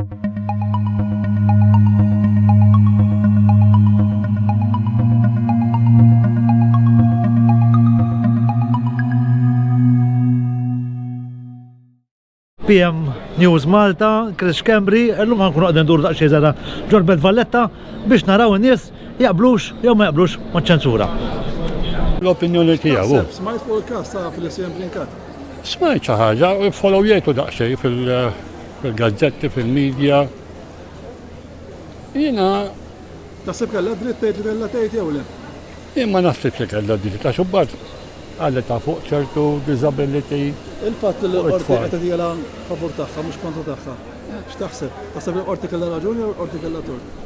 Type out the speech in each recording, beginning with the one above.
PM News Malta, Chris Kembri, l-lum għankun għadden dur daqxie zara ġor Belt Valletta biex naraw n-nies jaqblux jew ma jaqblux ma' ċensura. L-opinjoni tiegħu. Smajt fuq il-kas ta' fil-SM Blinkat. Smajt xi ħaġa, follow jgħidu daqsxejn fil- fil-gazzetti, fil-media. Jiena Taħseb kellha dritt tgħid li kellha tgħid jew le? Jien ma naħsibx li kellha dritt ta' xubbat għalli ta' fuq ċertu disability. Il-fatt li l-qorti qed tagħtila favur tagħha mhux kontra tagħha. X'taħseb? Taħseb li qorti kellha raġun jew qorti kellha tort?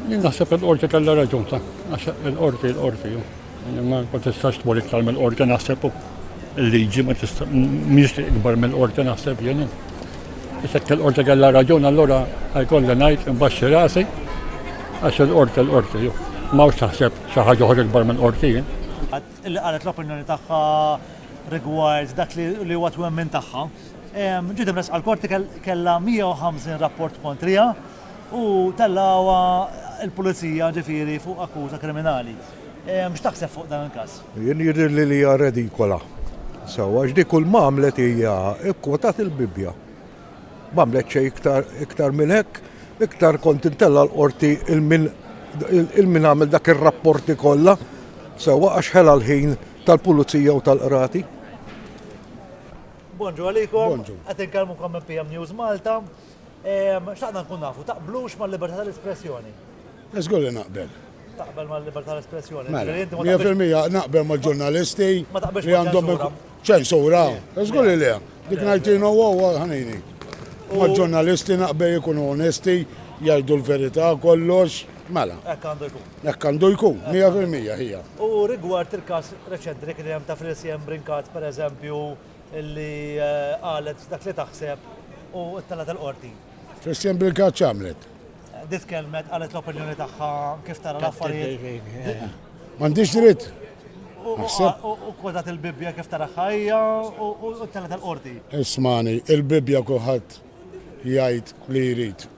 Jien naħseb il-qorti kellha raġun ta' għax il-qorti l-qorti. Ma tistax tmur iktar mill-qorti naħseb il-liġi ma tista' mhix ikbar mill-qorti naħseb jien. Isek il-qorti kellha raġun allura jkolli ngħid imbaxxi rasi għax il-qorti l-qorti ju. Mawx taħseb xi ħaġa oħra ikbar mill-qorti jien. Li qalet l-opinjoni tagħha rigward dak li huwa twemmin tagħha. Ġiet imressqa l-qorti kellha 150 rapport kontriha u tellgħuha l-pulizija ġifieri fuq akkuża kriminali. X'taħseb fuq dan il-każ? Jien jidhirli li hija redikola. Sewwa għax dik kull m'għamlet hija kkwotat il-Bibbja. M'għamlet xejn iktar iktar minn hekk, iktar kont intella l-qorti il-min għamel dak ir-rapporti kollha sewwa għax ħela l-ħin tal-pulizija u tal-qrati. Bonġu għalikom, qed inkellmukom minn PM News Malta. Xtaqna nkun nafu, taqblux mal-libertà tal-espressjoni? Żgur li naqbel. Taqbel mal-libertà tal-espressjoni? Mela, mija fil-mija naqbel mal-ġurnalisti li għandhom ċensura. Żgur li le. Dik ngħidtinu huwa ħanini. Mal-ġurnalisti naqbel ikunu onesti, jgħidu l-verità kollox. Mela. Hekk għandu jkun. Hekk għandu jkun, mija fil-mija hija. U rigward il-każ reċenti li kien hemm ta' Frisiem Brinkat, pereżempju, li qalet dak li taħseb u ttellgħet il-qorti. Christian Birkat x'għamlet? Dit kelmet qalet l-opinjoni tagħha kif tara l-affarijiet. M'għandix dritt. U kodat il-Bibbja kif tara ħajja u ttellgħet il-qorti. Ismani, il-Bibbja kulħadd jgħid li jrid.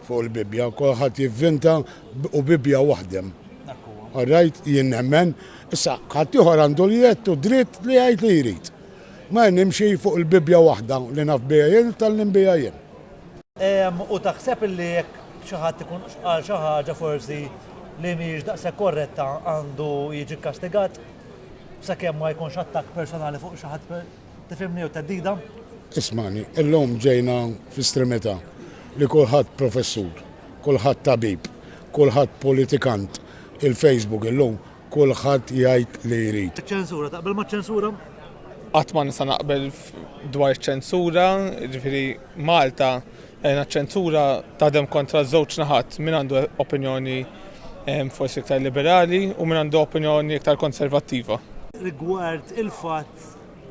Fuq il-Bibbja, kulħadd jivvinta u Bibbja waħdem. All right, jien nemmen. Issa, ħaddieħor għandu l-jett u dritt li jgħid li jrid. Ma jien nimxi fuq il-Bibbja waħda li naf biha jien u tgħallim biha jien. U taħseb li jekk xi ħadd ikun qal xi ħaġa forsi li mhijiex daqshekk korretta għandu jiġi kkastigat sakemm ma jkunx attakk personali fuq xi ħadd Tifhimni jew theddida? Ismani, illum ġejna fi stremità li kulħadd professur, kulħadd tabib, kulħadd politikant, il-Facebook illum kulħadd jgħid li jrid. Iċ-ċensura, taqbel maċ-ċensura? Qatt ma nista' naqbel dwar iċ-ċensura, ġifieri Malta għajna eh, ċensura tadem kontra żewġ naħat min għandu opinjoni eh, forsi iktar liberali u min għandu opinjoni iktar konservattiva. Rigward il-fatt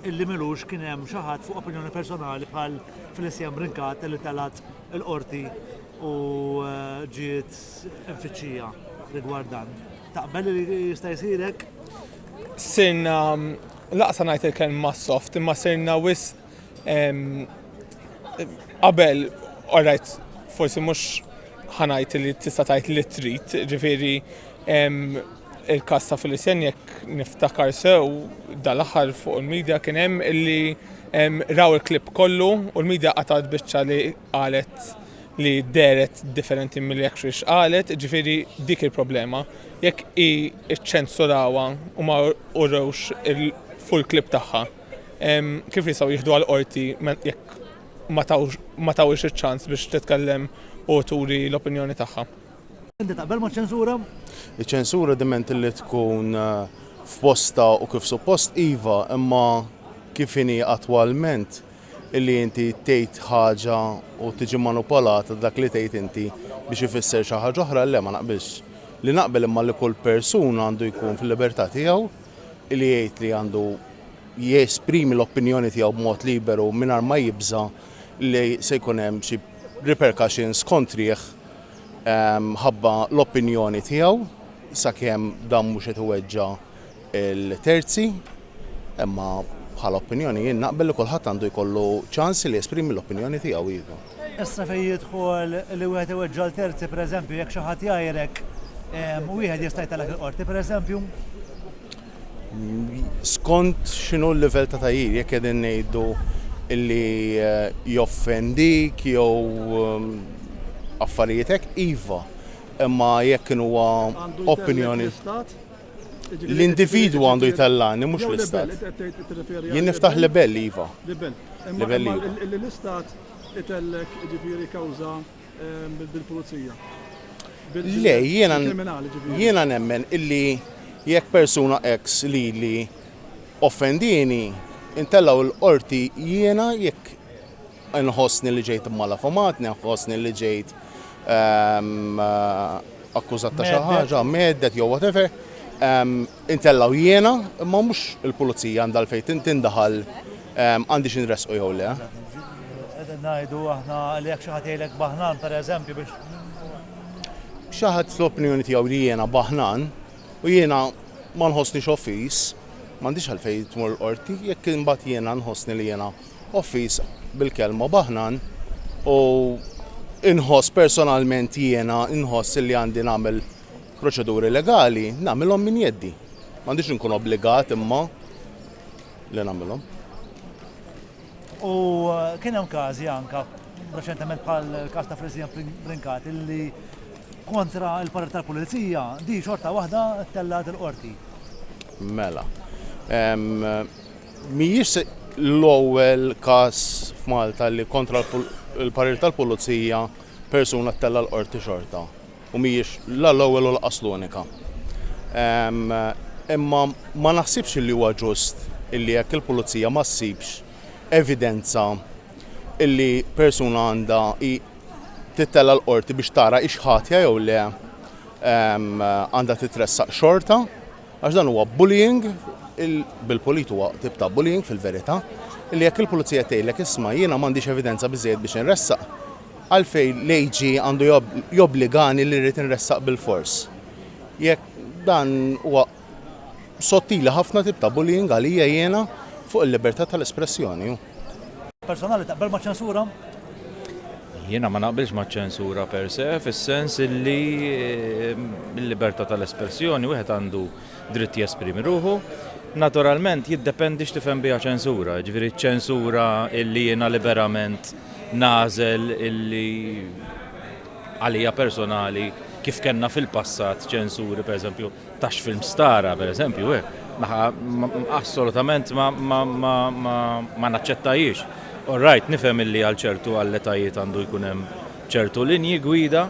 illi m'ilux kien hemm xi ħadd fuq opinjoni personali bħal Felicia Brincat li telgħet il-Qorti u ġiet imfittxija rigward dan. Taqbel li jista' jsir hekk? Sirna laqsa ngħid il-kelma soft imma sirna wis qabel orajt forsi mhux ħanajt li tista' tgħid li trid, ġifieri Il-każ ta' Felicien jekk niftakar sew dal-aħħar fuq il-midja kien hemm illi raw il-clip kollu u l-midja qatgħet biċċa li qalet li dehret differenti milli actually x'qalet, ġifieri dik il-problema. Jekk hi ċċensurawha u ma urewx il-full clip tagħha, kif jistgħu jieħdu għall-qorti jekk ma tawhiex iċ-ċans biex titkellem u turi l-opinjoni tagħha? Inti taqbel ma' ċensura? Iċ-ċensura diment li tkun eh, f'posta u kif suppost iva, imma kif inhi attwalment illi inti tgħid ħaġa u tiġi manupolata dak li tgħid inti biex ifisser xi ħaġa oħra le ma naqbilx. Li naqbel imma li kull persuna għandu jkun fil-libertà tiegħu li jgħid li għandu jesprimi l-opinjoni tiegħu b'mod liberu mingħajr ma jibża li se jkun hemm xi repercussions kontrih mħabba l-opinjoni tiegħu sakemm dan mhux qed iweġġa' l-terzi, imma bħala opinjoni jien naqbel li kulħadd għandu jkollu ċans li jesprimi l-opinjoni tiegħu iva. Issa fejn jidħol li wieħed iweġġa' l-terzi pereżempju jekk xi ħadd jgħajrek wieħed jista' jtellgħek il-qorti pereżempju? Skont x'inhu l-livell ta' tagħjir, jekk qegħdin ngħidu li joffendik jew affarijiet hekk, iva. Imma jekk kien huwa opinjoni. Għandu jtellgħek l-Istat? L-individwu għandu jtellgħani, mhux l-Istat. Jew libell, qed tirreferi għal. Jien niftaħ libell, iva. Libell. Imma li l-Istat itellgħek jiġifieri kawża. Bil-pulizija. Le, jiena jiena nemmen illi jekk persuna ex li li offendini, intellaw il-qorti jiena jekk nħossni li ġejt mala fumat, nħossni li ġejt ehm, akkużat ta' xi ħaġa, meddet jew whatever, ehm, Intella' u jiena, imma mhux il-pulizija għandha għalfejn tintinda ħal għandix inressqu jew le. Qegħdin ngħidu aħna li jekk xi ħadd jgħidlek baħnan pereżempju biex. Xi ħadd fl-opinjoni tiegħu li jiena baħnan u jiena ma nħossnix offiż, m'għandix għalfejn tmur il-qorti, jekk imbagħad jiena nħossni li jiena offiż bil-kelma baħnan u inħoss personalment jiena inħoss li għandi nagħmel Proċeduri legali nagħmilhom minn jeddi. M'għandix inkun obbligat imma li nagħmilhom. U kien hemm każi anke reċentement bħal każ ta' Frisian Brincat illi kontra l-parir tal-Pulizija di xorta waħda tellgħet il-qorti. Mela. Mhijiex l-ewwel każ f'Malta li kontra l-parir tal-Pulizija persuna ttella' l-qorti xorta. u mhijiex la l-ewwel u lanqas l-unika. Imma ma naħsibx illi huwa ġust illi jekk il-Pulizija ma ssibx evidenza illi persuna għandha hi tittella' l-Qorti biex tara hix ħatja jew le għandha titressaq xorta għax dan huwa bullying bil-pulit huwa tip ta' bullying fil-verità illi jekk il-Pulizija tgħidlek isma' jiena m'għandix evidenza biżżejjed biex inressaq Għalfejn l-AG għandu jobbligani li rrid inressaq bilfors? Jekk dan huwa sottili ħafna tip ta' bullying għalija jiena fuq il-libertà tal-espressjoni. Personali taqbel maċ-ċensura? Jiena ma naqbilx maċ-ċensura per se fis-sens illi l-libertà tal-espressjoni wieħed għandu dritt jesprimi ruħu. Naturalment jiddependi x'tifhem biha ċensura. Jiġifieri ċ-ċensura illi jiena liberament nagħżel illi għalija personali kif kellna fil-passat ċensuri pereżempju ta' x'film stara pereżempju eh, assolutament ma naċċettajiex. All right, nifhem illi għal ċertu għall-etajiet għandu jkun hemm ċertu linji gwida,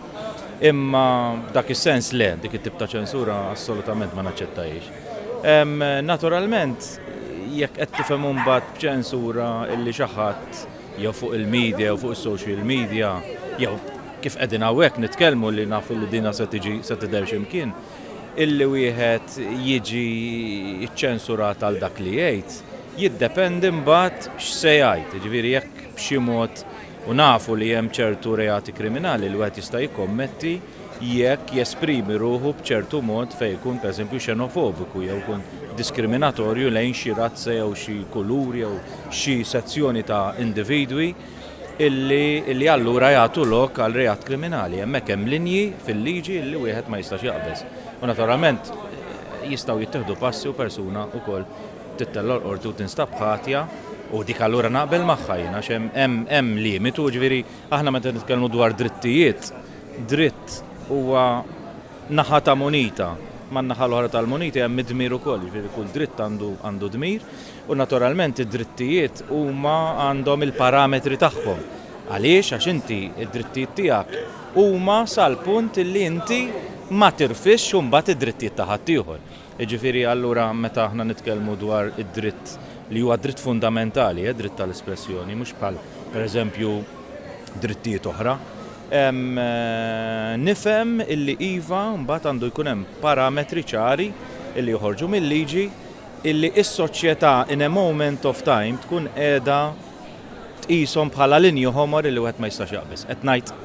imma dak is-sens le, dik it-tip ta' ċensura assolutament ma naċċettajiex. Naturalment, jekk qed tifhem mbagħad b'ċensura illi xi ħadd jew fuq il-media jew fuq is-social media jew kif qegħdin hawnhekk nitkellmu li nafu li dinha se tiġi se tidher xi mkien, illi wieħed jiġi ċċensurat għal dak li jgħid, jiddependi mbagħad x'se jgħid. Jiġifieri jekk b'xi mod, u nafu li hemm ċertu reati kriminali li wieħed jista' jikkommetti, jekk jesprimi ruħu b'ċertu mod fejn ikun pereżempju xenofobiku jew ikun diskriminatorju lejn xi razza jew xi kulur jew xi sezzjoni ta' individwi illi illi allura jagħtu lok għal reat kriminali. Hemmhekk hemm linji fil-liġi illi wieħed ma jistax jaqbeż. U naturalment jistgħu jittieħdu passi u persuna wkoll tittella' l-qorti u tinstab ħatja u dik allura naqbel magħha jien għax hemm hemm hemm limitu ġifieri Aħna meta nitkellmu dwar drittijiet, dritt huwa naħa ta' munita, ma' naħa l-oħra tal-munita hemm id-dmir ukoll, jiġifieri kull dritt għandu għandu dmir u naturalment id-drittijiet huma għandhom il-parametri tagħhom. Għaliex? Għax inti id-drittijiet tiegħek huma sal-punt li inti ma tirfisx imbagħad id-drittijiet ta' ħaddieħor. Jiġifieri allura meta aħna nitkellmu dwar id-dritt li huwa dritt fundamentali, eh, dritt tal-espressjoni, mhux bħal pereżempju drittijiet oħra, nifhem illi iva mbagħad għandu jkun hemm parametri ċari illi joħorġu mil-liġi illi s-soċjetà in a moment of time tkun qiegħda tqishom bħala linji ħomor li wieħed ma jistax jaqbiż. Qed ngħid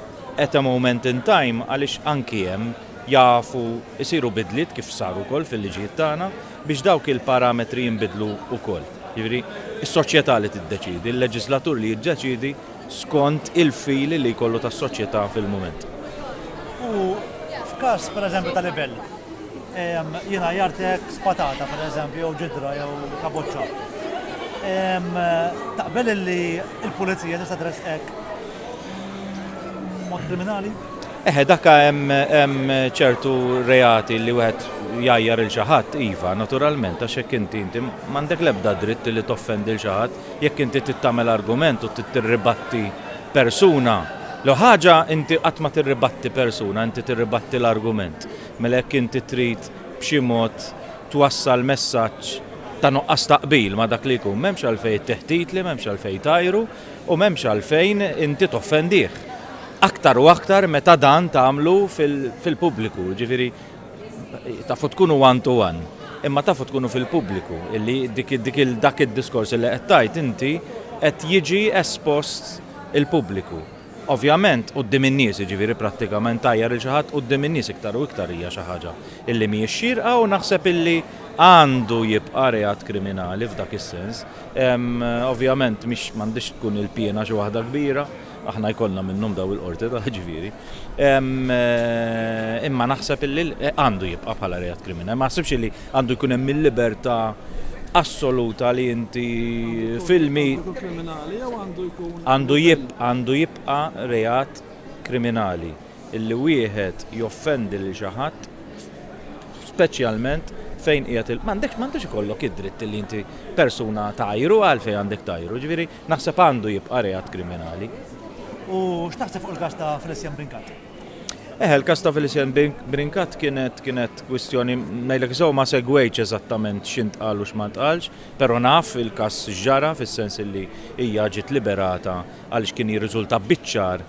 at a moment in time għaliex anki hemm jafu jsiru bidliet kif saru wkoll fil-liġijiet tagħna biex dawk il-parametri jinbidlu wkoll. Jiġifieri s-soċjetà li tiddeċiedi, il-leġiżlatur li jiddeċiedi skont il-fili li jkollu tas-soċjetà fil-mument. U f'każ, pereżempju, ta' libell, Jiena għajjartek spatata, pereżempju, jew ġidra jew kaboċċa. Taqbel li l-pulizija tista' tressqek mod kriminali? Eħe, dakka hemm ċertu reati li wieħed jajjar il xaħat, iva, naturalment, għax jekk inti inti m'għandek l-ebda dritt li toffendi l xaħat, jekk inti tittamel argument u tirribatti persuna. L ħaġa inti qatt ma tirribatti persuna, inti tirribatti l-argument. Mela jekk inti trid b'xi mod twassal messaġġ ta' nuqqas ta' qbil ma' dak li jkun, m'hemmx għalfejn tteħtitli, m'hemmx għalfejn tgħajru, u m'hemmx għalfejn inti toffendih. Aktar u aktar meta dan tagħmlu fil-pubbliku, jiġifieri tafu tkunu one to one, imma tafu tkunu fil-pubbliku illi dak id-diskors illi qed tgħid inti qed jiġi espost il-pubbliku. Ovvjament, quddiem in-nies, jiġifieri prattikament tgħajjar lil xi ħadd quddiem in-nies iktar u iktar hija xi ħaġa illi mhijiex xierqa u naħseb illi għandu jibqa' reat kriminali f'dak is-sens. Ovvjament mhix m'għandhiex tkun il-piena xi waħda kbira, aħna jkollna minnhom dawn il-Qorti ta' jiġifieri, imma naħseb illi għandu jibqa' bħala reat kriminali. Ma naħsibx illi Għandu jkun hemm il-libertà assoluta li inti filmi. Għandu jibqa' għandu jibqa' reat kriminali illi wieħed joffendi lil xi ħadd speċjalment fejn qiegħed il m'għandekx m'għandux ikollok id-dritt li inti persuna tgħajru għalfejn għandek tgħajru, ġifieri naħseb għandu jibqa' reat kriminali. U x'taħseb fuq il-każ ta' Felician Brincat? Eh, il-kas ta' Felicien Brinkat kienet kienet kwistjoni ngħidlek sew ma segwejċ eżattament x'int qal u x'ma ntqalx, però naf il-kas ġara fis-sens illi hija ġiet liberata għaliex kien jirriżulta biċ-ċar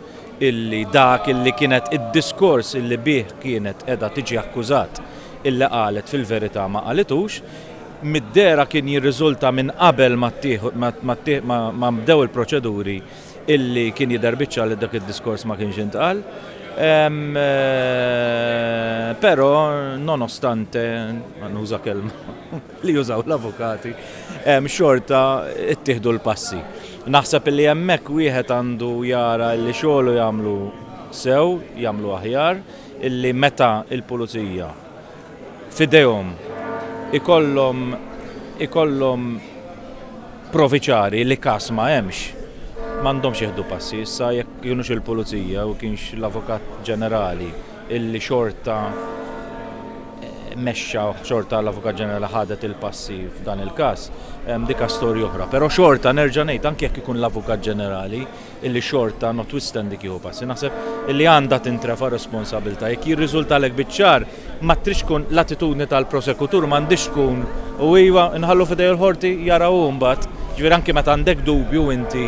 illi dak illi kienet id-diskors illi bih kienet qiegħda tiġi akkużat illi qalet fil-verità ma qalitux mid-dera kien jirriżulta minn qabel ma bdew il-proċeduri illi kien jidher biċċa li dak id-diskors ma kienx intqal. Ehm, eh, però nonostante, nuża kelma li jużaw l-avukati, ehm, xorta ittieħdu l-passi. Naħseb li hemmhekk wieħed għandu jara li xogħlu jagħmlu sew, jagħmlu aħjar, illi meta il-pulizija f'idejhom ikollhom ikollhom provi ċari li każ ma hemmx, m'għandhomx jieħdu passi. Issa jekk kienux il-Pulizija u kienx l-Avukat Ġenerali illi xorta mexxa xorta l-Avukat Ġenerali ħadet il-passi f'dan il-każ, dika storja oħra. Però xorta nerġa' ngħid anke jekk ikun l-Avukat Ġenerali, illi xorta notwithstanding jieħu passi. Naħseb illi għandha tintrefa' responsabilità. Jekk jirriżultalek biċ-ċar, ma tridx tkun l-attitudni tal-prosekutur m'għandhiex tkun u iva nħallu f'idejh il-Qorti jara hu mbagħad. Ġifieri anki meta għandek dubju inti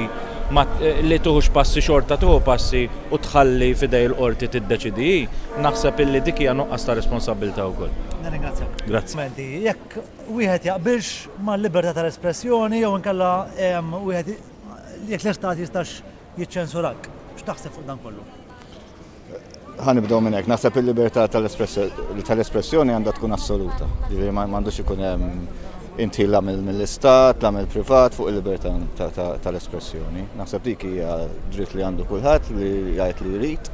ma li tieħux passi xorta tieħu passi u tħalli f'idejh il-Qorti tiddeċidi hi, naħseb illi dik hija nuqqas ta' responsabilità wkoll. Nirringrazzjak. Grazzi. Menti, jekk wieħed jaqbilx mal-libertà tal-espressjoni jew inkella wieħed Jekk l-Istat jistax jiċċensurak, x'taħseb fuq dan kollu? Ħanibdew minn hekk, naħseb il-libertà tal-espressjoni għandha tkun assoluta. Ġifieri ma għandux ikun hemm inti la mill-istat, la mill-privat fuq il-libertà tal-espressjoni. Naħseb dik hija dritt li għandu kulħadd li jgħid li jrid.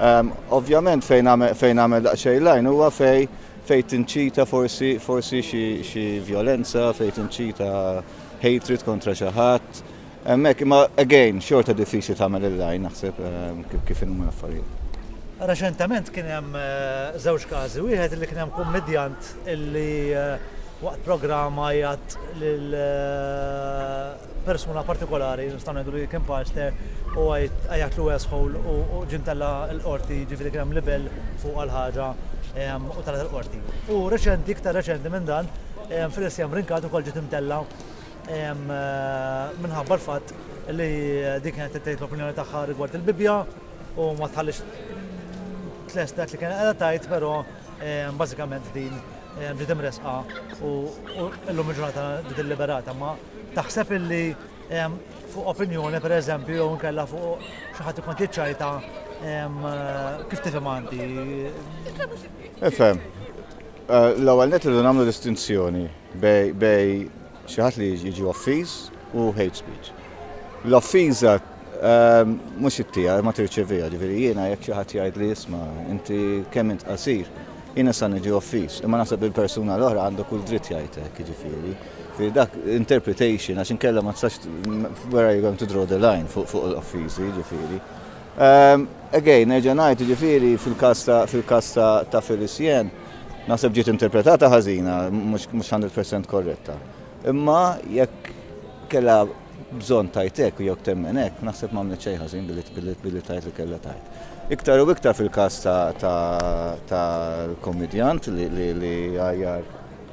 Ehm, ovvjament fejn għamel daqsxejn lajn huwa fej fej tinċita forsi forsi xi violenza, fej tinċita hatred kontra xi ħadd. Hemmhekk imma again xorta diffiċli tagħmel il-lajn naħseb eh, kif inhuma l-affarijiet. Reċentament kien hemm eh, żewġ każi, wieħed li kien hemm kummedjant illi eh, waqt programma jgħat lil persuna partikolari, nistgħu ngħidu li kien pastor, u għajat lu esħol u ġintella l-qorti ġifieri kien hemm libel fuq għal ħaġa u tal-qorti. U reċenti, iktar reċenti minn dan, Felicia Brincat ukoll ġiet imtellgħa minħabba l-fatt li din kienet qed tgħid l-opinjoni tagħha rigward il-Bibbja u ma tħallix tlest dak li kienet qiegħda tgħid, però bażikament din ġiet imressqa u llum il-ġurnata ġiet illiberata. Ma taħseb illi fuq opinjoni pereżempju jew inkella fuq xi ħadd ikun tiċċajta kif tifhem għandi? Efhem, L-ewwel nett irridu nagħmlu distinzjoni bejn xi ħadd li jiġi offiż u hate speech. L-offiża mhux it-tiegħi ma tirċeviha, ġifieri jiena jekk xi ħadd jgħidli isma' inti kemm int qasir, jien nista' niġi offiż, imma naħseb li l-persuna l-oħra għandu kull dritt jgħid hekk, jiġifieri ġifieri dak interpretation għax inkella ma tistax where are you going to draw the line fuq l-offiżi, jiġifieri. Again, nerġa' ngħid, jiġifieri fil-każ fil-każ ta' Felicien, naħseb ġiet interpretata ħażina, mhux 100% korretta. Imma jekk kellha bżonn tajt hekk u jekk temmen hekk, naħseb m'għamlet xejn ħażin billi tajt li kellha tajt. Iktar u iktar fil-każ tal-kommedjant li għajjar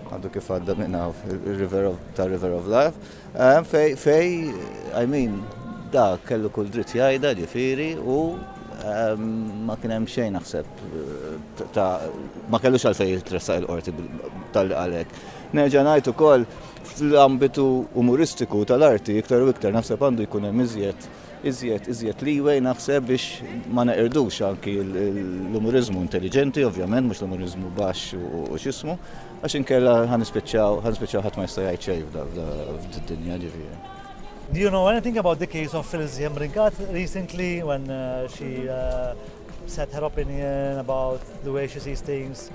għadu kif għadda minn hawn, tar-River of Life. Hemm fej, fej, I mean, da kellu kull dritt jgħidha ġifieri u ehm, ma kien hemm xejn naħseb ta' ma kellux għalfej jitressaq il-qorti tal-li għalek. Nerġa' ngħid ukoll fl-ambitu umoristiku tal-arti iktar u iktar naħseb għandu jkun hemm iżjed Iżjed, iżjed leeway naħseb biex ma neqirdux anki l-umuriżmu intelliġenti, ovvjament, mhux l-umuriżmu baxx u x'ismu, għax inkella ħanispiċċaw ħanispiċċaw ħadd ma jista' jgħid xejn f'did-dinja ġifieri. Do you know anything about the case of Filzi Ringat recently when uh, she uh, said her opinion about the way she sees things?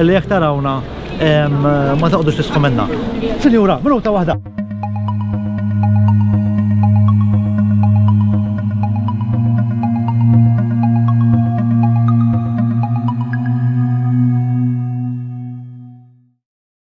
Illi jekk tarawna ma taqdux tisħu minna. Sinjura, minuta waħda.